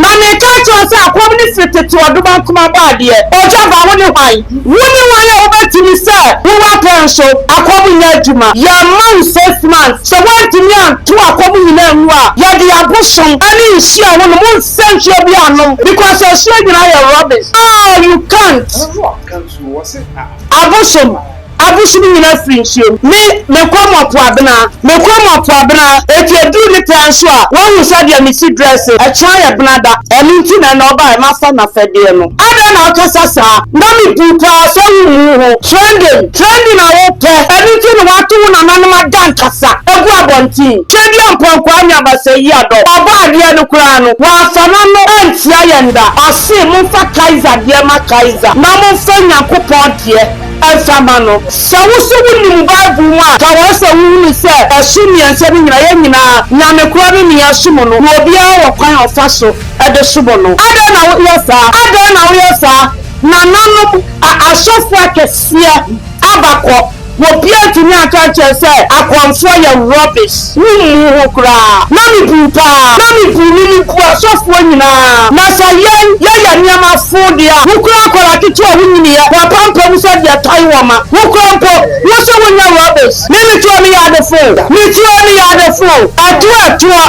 Na mereka akyerɛ wo sɛ akɔm no firi tete ɔdoma nkoma bɔ adeɛ, ogya ba, wone hwan? Wone hwan a wobɛtumi sɛ wo w'apɛn so akɔm nyɛ adwuma? Yɛmma wo six months, sɛ woantumi anto akɔm nyina angu a, yɛde abosom ne nsuo a wonom, wonsɛ nsuo biaa nnom because asuo nyina yɛ rubbish, aah you can't. Abosom. Abosom nyina firi nsuom. Me, mekɔ mo Apoabena, mekɔ mo Apoabena, enti ɛduru ne pɛa nso a, woahu sɛdeɛ mesi dresse, ɛkyena yɛ benada, ɛno nti na ɛnnɛ ɔbaeɛ, mafa n'afɛdeɛ no. Adɛn na wokasa saa? Na mebu pa ara sɛ wommuu ho. Trending, trending na wopɛ, ɛno nti na woato wo nananom adankasa agu abɔnten. Twedeɛ Ampɔnkɔa nyɛ abasayi adɔ, ɔbɔ adeɛ no koraa no, wamfa n'ano antia yɛn da. Ɔse momfa Kaiser deɛ ma Kaiser, na momfa Nyankopɔn deɛ. Fa ma no. Sɛ wo nso wunim Bible mu a, kae sɛ wuhui sɛ ɛso mmiɛnsa no nyinaa, yɛn nyinaa, Nyame koro ne nea ɛsom no, na obiara wɔ kwan a ɔfa so de som no. Adɛn na woyɛ saa? Adɛn na woyɛ saa? Nananom, a asɔfo akɛseɛ aba kɔ, obiara antumi anka ankyerɛ sɛ akɔmfoɔ yɛ rubbish. Wommuu ho koraa. Na mebuu paa. Na mebuu ne ne buu asɔfoɔ nyinaa. Na sɛ yɛn yɛyɛ nneɛma fo deɛ a, wo koraa akwadaa ketewa a wonnyiniiɛ, w'apampam nso de ɛtan wɔn ma. Wo koraa mpo, wo sɛ wonyɛ rubbish. Me metuo ne yade fo o. Metuo ne yade fo o. Atuo atuo,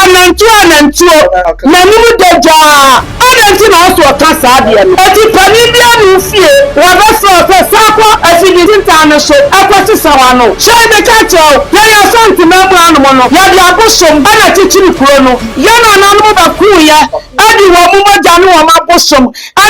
anantuo anantuo, m'anim da dwaa. Adɛn nti na ɔso ɔka saa adeɛ no? Enti panin bi anum fie, wɔbɛfrɛ wo sɛ san kɔ afidie tintan no so kɔ sesa w'ano. Hyɛ meka nkyerɛ wo, yɛn Asante man mu hanom no, yɛde abosom na akyekyere kuro no. Yɛn nananom bɛkooeɛ de wɔn mogya ne wɔn abosom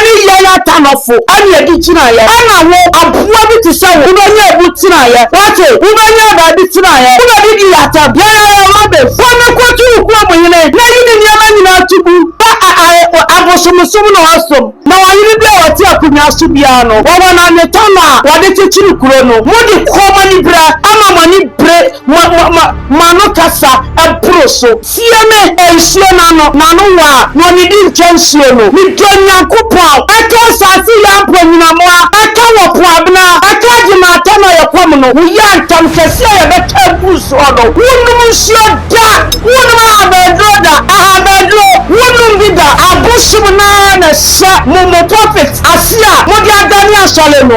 ne yɛn atanɔfo na ɛde gyinaeɛ. Ɛna wo, aboa bi te sɛ wo, wobɛnya abu tenaeɛ. Woate? Wobɛnya baabi tenaeɛ. Wobɛdidi yɛn atɛm. Yɛn ara yɛn mma bɛfiri. Kɔ na kɔtu wo kurom hene, na yi ne nneɛma nyinaa to gu. Bere a ae abosomsom no asom na ɔhene bi a ɔte akonnwa so biara no wɔ wɔn anwetɔ no a wɔde kyekyere kuro no, mode kɔn anibere ama mo ani bere mo mo mo mo ano kasa boro so. Tie me, e nsuo no ano, n'ano wɔ a, na ɔnnidi nkyɛ nsuo no. Me dɔ Nyankopɔn, ɛka asase yɛ ampa nyinamoa, ɛka wɔ po abena, ɛka agye ma atɛn a yɛkɔm no, wo yɛ antam kɛse a yɛbɛka agu soɔ no, wonnom nsuo da. Wonom ahabanduro da, ahabanduro, wonom bi da, abosom no ara na ɛhyɛ mo mo pulpit ase a mode adane asɔre no.